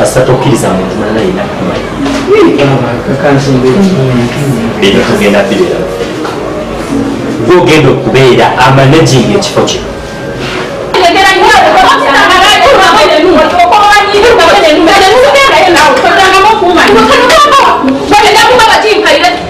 kasita tokkiriza muntu mulala yina kumanyi ebyo tugenda bibeera gwogenda okubeera amanaging ekifo kino Thank you.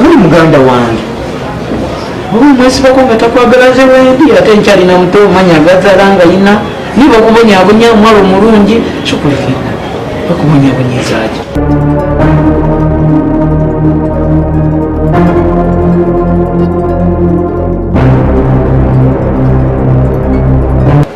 muli muganda wange oba mwesibako nga takwagala nze wendi ate nkyalina muto omanya agazala nga yina niba okubonyabonya omwalo omulungi kikulifinga okubonyabonyezaki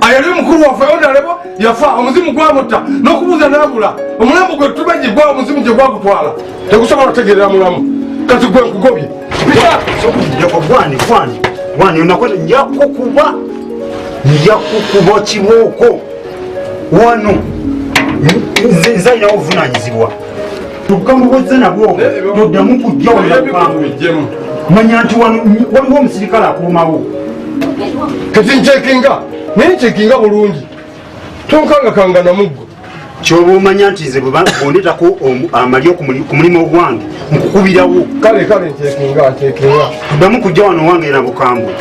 ayali omukulu waffe onalebo yafa omuzimu gwamutta n'okubuuza n'abula omulambo gwe tubaji gwa omuzimu gye gwagutwala tegusobola otegerera mulamu kati gwe nkugobye njakukuba njakukuba kibooko wano nze nzalinawo obuvunanyizibwa kyokka mubuzze nabwo toddamu kujja walakukamu manya nti waliwo omusirikale akuumawo kati nkyekinga naye nkyekinga bulungi tonkangakanga namuggo kyoba omanya nti nze bwebondetako amalyo ku mulimu ogwange nkukubirawo kale kale nkyekinga nkyekinga tuddamu kujja wano wange na bukambwe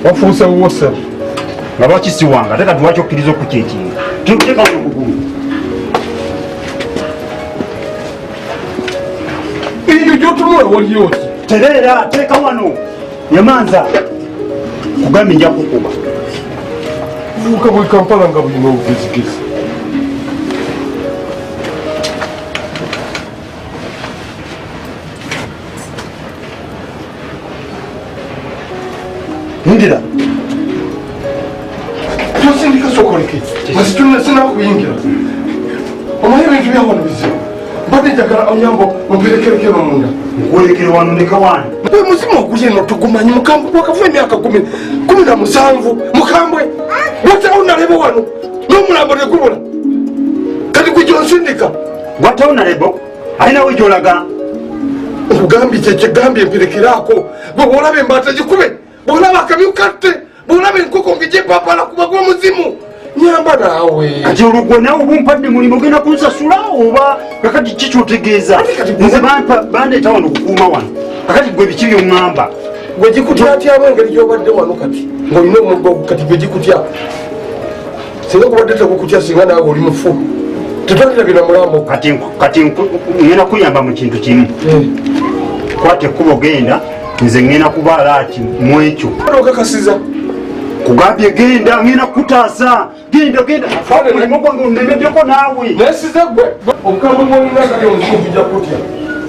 wafuuse wuwosebo nga lwaki siwanga ate kati lwaki okkiriza okukyekinga tuteekawo okugulu ebintu gyotunula waliyoki tereera teeka wano nyamanza kugambye nja kukuba buuka bwe kampala nga bulina obugezigezi Indira. Tusindika sokoleke. Masituna sina kuyingira. Omanyi ebintu bya wano bizibu. Mbadde njagala onyambo omperekereke no munda. Nkwolekere wano ne kawani. Mbe muzimu ogulye no tugumanyi mukambwe gwakavuba emyaka kumi kumi na musanvu mukambwe. Watawo nalebo wano n'omulambo ne gubula. Kati gwe gyonsindika. Watawo nalebo. aye nawe gyolaga nkugambye kyekyegambye mperekeraako bwe bwolaba embaata gikube bwolaba akamyu katte bwolaba enkoko ngegyepapala kuba gwomuzimu nyamba naawe kati olugwe nawe oba ompadde mulimu ogenda kunsasula oba kakati ki kyotegeeza nze bandeeta wano okukuuma wano kakati gwe biki byoŋŋamba gwe gikutyatyaba engeri gyobadde wano kati ng'olina omuggo kati gwe gikutya singa kubadde tekukutya singa naawe oli mufu tetwalira bino mulambo kati ngenda kuyamba mu kintu kimu eh. kwata ekkubo genda nze ngenda kubaala ati mu ekyo okakasiza kugambye genda ngenda kutaasa genda genda omulimu gwange onemedeko naawe nesize gwe obukama bwolina kati omukuja kutya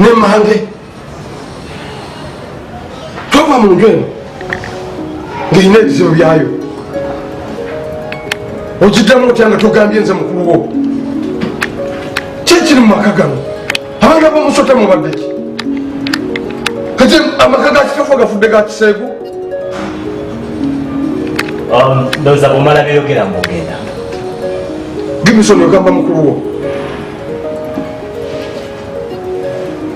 ne mange tova mu nju eno ng'erina ebizibu byayo ogiddamu otya nga togambye nze mukulu wo kyekiri mu maka gano abantu abamusota mubaddeki kati amaka gakitafu gafudde gakiseegu um, ndoza bumala byeyogera mugenda gimisoni ogamba mukulu wo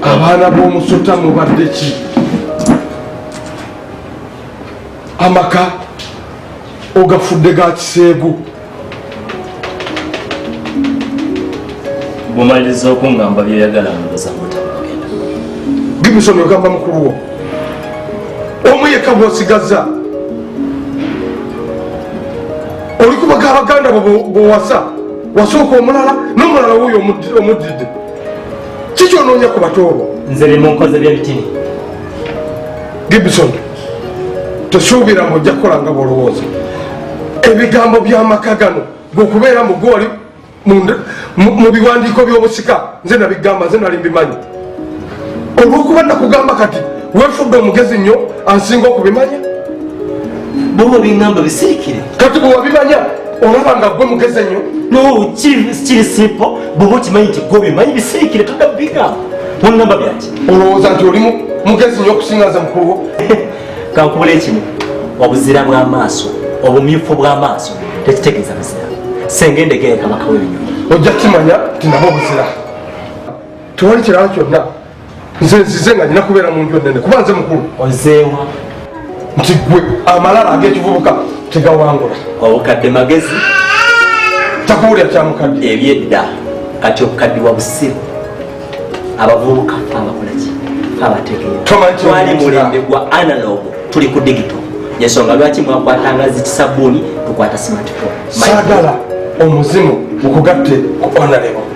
abaana b'omusota mubadde ki amaka ogafudde ga kiseegu bumaliriza okungamba byoyagala ndoza mutamagenda gibisoni ogamba mukulu wo omu yekka bwosigazza olikubaga abaganda bowasa wasooka omulala n'omulala wuuyo omuddidde kiki onoonya ku batoobo nze bimunkoze byebitini gibson tosuubira mu ojja kukola nga bwolowooza ebigambo by'amaka gano gwokubeera mu goli mu biwandiiko by'obusika nze nabigamba nze nali mbimanyi olwokuba nakugamba kati wefudde omugezi nnyo ansinga okubimanya boba bingamba bisirikire kati bwewabimanya olaba nga gwe mugezi ennyo nokiri simpo boba okimanyi nti gwe obimanyi bisirikire toda bigamba onamba byaki olowooza nti oli mugezi nnyo okusingaza mukuluwo kankubula ekimu obuzira bw'amaaso obumyufu bw'amaaso tekitegeeza buzira senga endegeera kabaka w'ebinyonyi ojja kimanya tinaba obuzira tewali kirala kyonna nze nzize nga nina kubeera mu nju ennene kuba nze mukulu ozeewa nti gwe amalala ag'ekivubuka tegawangula obukadde magezi takuwulira kyamukadde ebyedda kati obukadde wa busiru abavubuka abakolaki abategeeratwali mulembe gwa analog tuli ku digito yensonga lwaki mwakwata nga zikisabbuuni tukwata simatiko sagala omuzimu mukugatte ku onalebo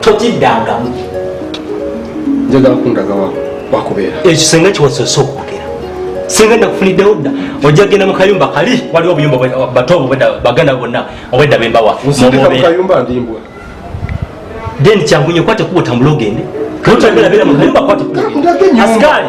totiddangamu njagala kundaga wakubeera ekisenge kiwasose okwogera singa nakufuniddewo dda ojja genda mu kayumba kali waliwo obuyumba bato obo baganda bonna obwedda bembawa then kyangunye kwate kuba otambula ogende kayumba kwate kuba ogende asikali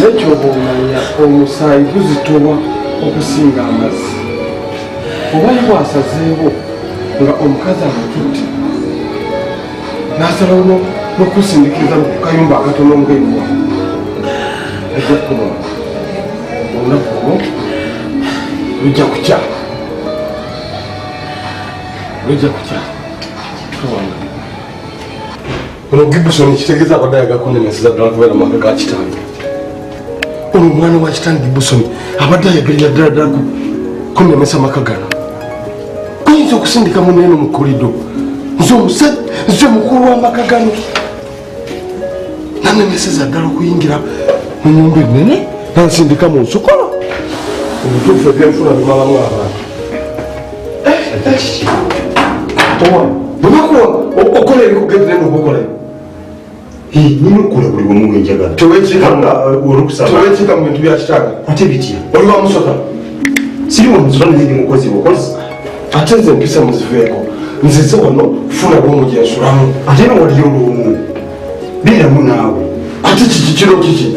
nekyoba omanya omusaayi guzitowa okusinga amazzi oba ye bwasazeewo nga omukazi amututte nasalawo nokusindikiza mukukayumba akatono ngaewa ajja kuba olunaku olwo lujja kukya lujja kukya ono gibson ekitegeeza abadde ayaga kunemeseza ddala kubeera mu maka ga kitange ono omwana wa kitange gibson abadde ayagalira ddala ddala kunemesa maka gano oyinza okusindika muneeno mu kolido nze omusajja nze omukulu w'amaka gano nanemeseza ddala okuyingira mu nyumba ennene nansindika mu nsukolo obutuufu ebyenfuna bimalamu abantu bwebakuwa okola ebikugendera nokukola nyina okukola buli wamu wenjagala tewekika mu bintu byakitaaga ate bitya oli wamusota siri wamusota naye ndi mukozi bukozi ate nze mpisa muziveeko nzize wano kufuna bwomu gyensulamu ate nowaliyo olwomu beeramu naawe ate kiki kiro kiki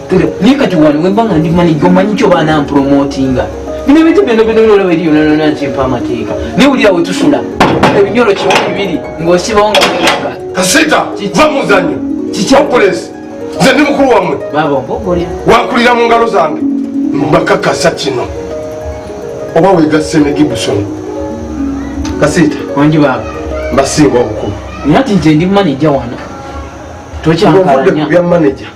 naye kati wano wemba nga ndi manija omanyi kyo baana mpromotinga bino ebintu byona byonabyola weri yonanona nkimpa amateeka naye wulira wetusula ebinyolo kimu bibiri ng'osibawo nga kasita va muzanyo kikyapulesi nze ndi mukulu wamwe wakulira mu ngalo zange mbakakasa kino oba wegasse ne gibusoni kasita wangi baba mbasinga obukulu nati nze ndi manija wano tokyankalanya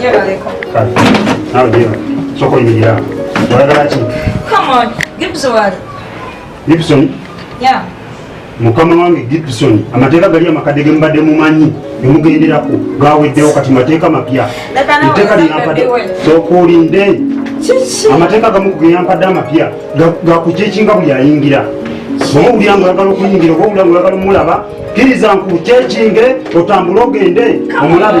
Gyebaleko. Kale, nawe gyeba. Sooka oyimirira awo. Oyagala ki? Come on, Gibson wali. Gibson? Yeah. mukama wange gibson amateeka gali amakadde ge mubadde mumanyi gemugenderako gaweddewo kati mateeka mapya eteeka lyeyampadde sooka olinde amateeka gamu geyampadde amapya gakucekinga buli ayingira oba owulira nga oyagala okuyingira oba owulira nga oyagala omulaba kiriza nkucekinge otambule ogende omulabe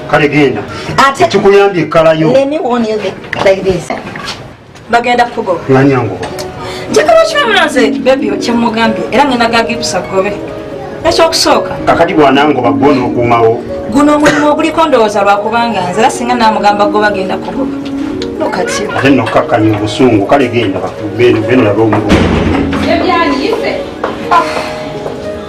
kale genda ekikuyambye ekkalayo bagenda kukugoba nanyanguba njagala okibamula nze bebi okyemugambye era ngenda gagipusa gobe ekyokusooka kakati bwanangoba gwona okuumawo guno omulimu oguliko ndowooza lwakubanga nze era singa namugamba goba genda kugoba nokati ate nokakkanya obusungu kale genda beno labe omulimu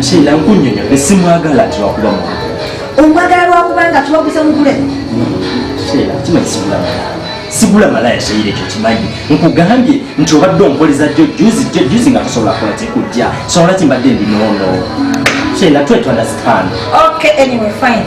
Sheila nkunyonyo ne simwagala ati lwakuba mu. Omwagala lwakuba nga tuwaguza mugule. Sheila kimanyi sigula malaya. Sigula malaya Sheila ekyo kimanyi. Nkugambye nti obadde ompoleza jjo juzi jjo juzi nga tosobola kola kikujja. Sobola kimbadde ndi nono. Sheila twe to understand. Okay anyway fine.